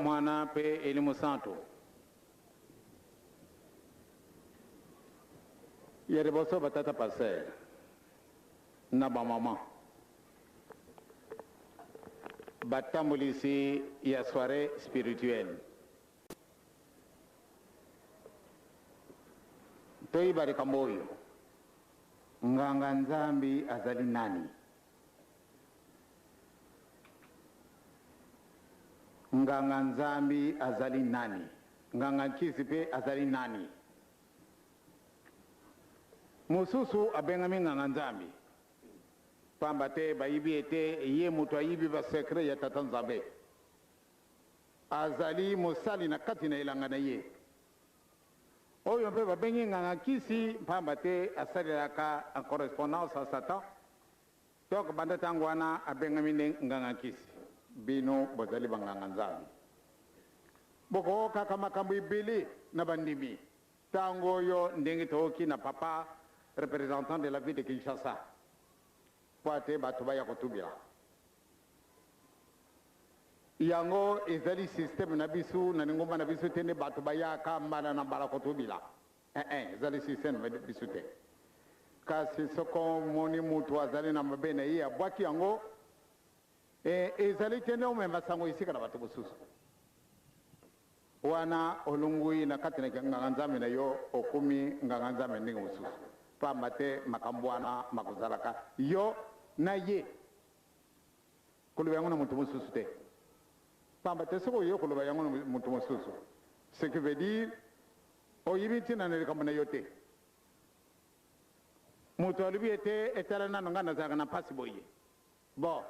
Mwana mpe Elimu Santu. ya liboso batata paster na bamama batambolisi ya soirée spirituelle Toyeba likambo oyo, Nganga-Nzambe azali nani? Nganga-Nzambe azali nani? Nganga-Nkisi pe azali nani? Mosusu abengami Nganga-Nzambe pamba te bayebi ete ye moto ayebi ba secret ya Tata Nzambe. Azali mosali na kati na elanga na ye, oyo mpe babengi nganga-nkisi, mpamba te asalelaka en correspondance na Satan. Donc, banda tango wana, abengami nde nganga-nkisi. Bino bozali banganga-Nzambe. Bokookaka makambo ebele na bandimi. Tango oyo, ndenge tooki na Papa, representant de la ville de Kinshasa, mpo ete bato baya kotubela. Yango ezali système na biso na lingomba na biso te nde bato bayaka mbala na mbala kotubila. Ee-e, ezali système na biso te. Kasi soko omoni moto azali na mabe na ye, abwaki yango, ee, ezali te nde omema sango esika na bato mosusu. Wana olongwi na kati na kinganganzambe na yo, okomi nganganzambe ya ndenge mosusu, pamba te makambo wana makozalaka yo na ye. Koloba yango na moto mosusu te. Pamba te soki oye koloba yango na moto mosusu, ce qui veut dire oyebi ntina na likambo na yo te. Moto alobi ete etala nano ngai nazalaka na mpasi boye. Bo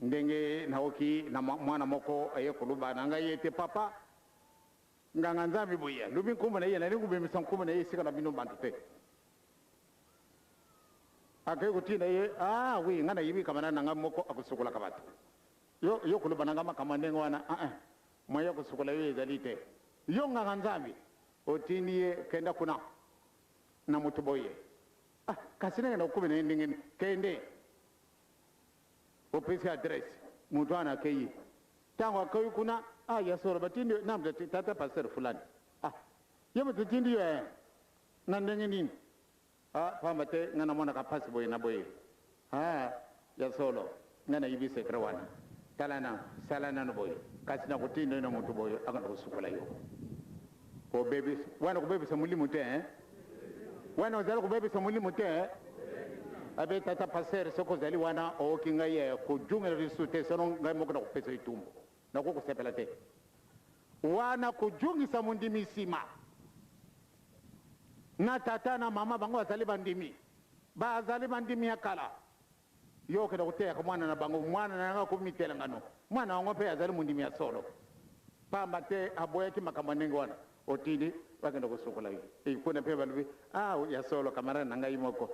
ndenge naoki na mwana moko aye koloba na ngai ete papa nganga nzambi boye alobi nkombo na ye nalingi kobimisa nkombo na ye esika na bino bantu te. Akeyi kotinda ye, ah oui ngai nayebi camarade na ngai moko akosukolaka batu. Yo, yo koloba na ngai makambo ya ndenge wana, ah eh, moyen ya kosukola yo ezali te. Yo nganga Nzambe, otindi ye kenda kuna na mutu boye, ah kasi nakenda kokomi na ye ndenge nini? Kende, opesi ye adresse, mutu wana akeyi. Tango akeyi kuna, ah ya solo batindi yo, nani moto atindi, tata pasteur fulani, ah yo moto etindi yo eh, Na ndenge nini? Ah, pamba te ngai namonaka pasi boye na boye. Ah, ya solo, ngai nayebi secret wana. Tala na, sala nanu boye, kasi nakotinda yo na mutu boye, akenda kosukola yo. Kobebisa, wana kobebisa molimo te, hein? Wana ozali kobebisa molimo te, hein? Abe, tata pasteur, soki ozali wana, ooki ngai, eh, kojungela lisusu te, sinon ngai moko nakopesa yo etumbu. Nakoki kosepela te wana kojungisa mondimi nsima na tata na mama bango bazali bandimi, bazali bandimi ya kala. Yo okenda koteyaka mwana na bango, mwana na yango akomi mitelengano, mwana yango mpe azali mondimi ya solo, mpamba te aboyaki makambo ya ndenge wana. Otindi bakenda kosukola ye e, kuna mpe balobi, ah, ya solo, kamarade na ngai moko,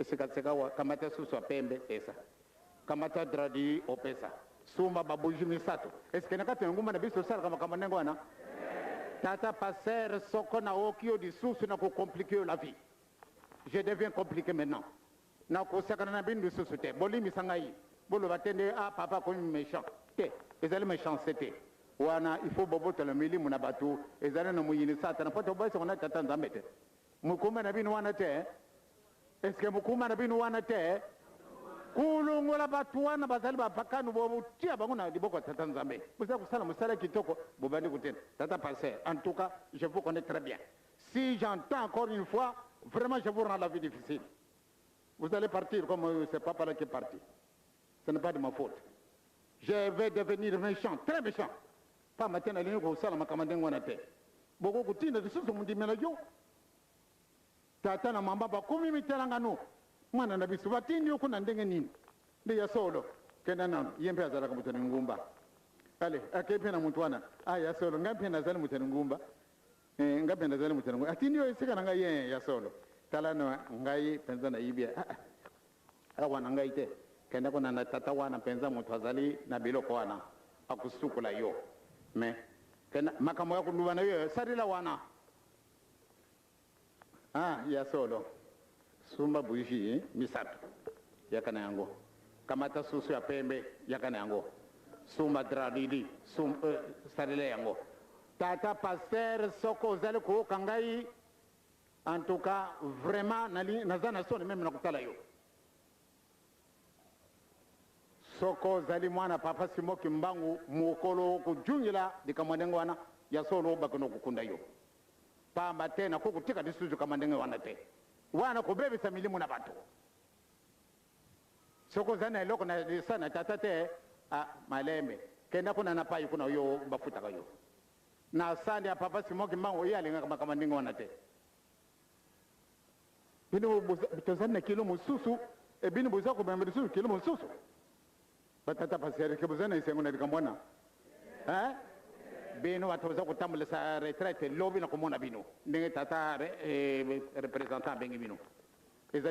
sikawa kamata susu ya pembe, pesa. Kamata dradi opesa. Sumba ba bougies misato. Est ce que na kati ya engumba na biso tosalaka makambo ndenge wana? Tata pasteur soko naoki yo lisusu nako compliquer yo la vie. Je deviens complique maintenant. Nakosakana na bino lisusu te. Bolimbisa ngai. Boloba te nde ah papa akomi mechant. Te, ezali mechanceté te. Wana il faut bobotola milimo na bato. Ezali na moyini satana po tobosanaka na Tata Nzambe te. Mokumba na bino wana te est ce que mokumba na bino wana te kolongola bato wana bazali bapakano botia bango na liboko ya tata nzambe bozali kosala mosala kitoko bobandi kotela tata passer en tout cas je vous connais très bien si j'entends encore une fois vraiment je vous rends la vie difficile vous allez partir comme euh, c'est papa là qui est parti ce n'est pas de ma faute je vais devenir méchant très méchant Pamba te nalingi kosala makambo ya ndenge wana te. Bokoki kotinda lisusu mondimela yo? Tata na mama bakomi mitela nganu. Mwana na biso, batindi yo kuna ndenge nini? Nde ya solo. Kenda nanu. Ye mpe azalaka moto na engumba. Ale, akei mpe na moto wana. Ah, ya solo, ngai mpe nazali moto na engumba. Eh, ngai mpe nazali moto na engumba. Atindi yo esika na ngai? Ee, ya solo. Tala na ngai penza nayibi. Ah, ah. Awa na ngai te. Kende kuna na tata wana mpenza, moto azali na biloko wana, akosukola yo. Mais, kende, makambo ya koloba na yo, salela wana. Ah, ya solo. Sumba bougie misato, yaka na yango. Kamata soso ya pembe, yaka na yango. Sumba drap du lit, sum, euh, salela yango. Tata pasteur, soko ozali kooka ngai, En tout cas vraiment nali naza na soni meme na kotala yo soko ozali mwana papa Simon Kimbangu mokolo okojungela likambo ndenge wana ya solo bakino kokunda yo pamba te nako kotika lisusu likambo ndenge wana te wana kobebisa milimo na bato soko ozali na eloko na lisa na tata te ah, malembe kenda kuna na pai kuna yo bafutaka yo Na salle ya papa Simon kimbangu ye alingaka makambo ya ndenge wana te. Bino tozali na kilo mosusu e bino boza komema lisusu kilo mosusu. Batata paserike boza na esengo na likambo wana eh? Bino bato boza kotambolisa retraite lobi na komona bino ndenge tata eh, representant abengi bino.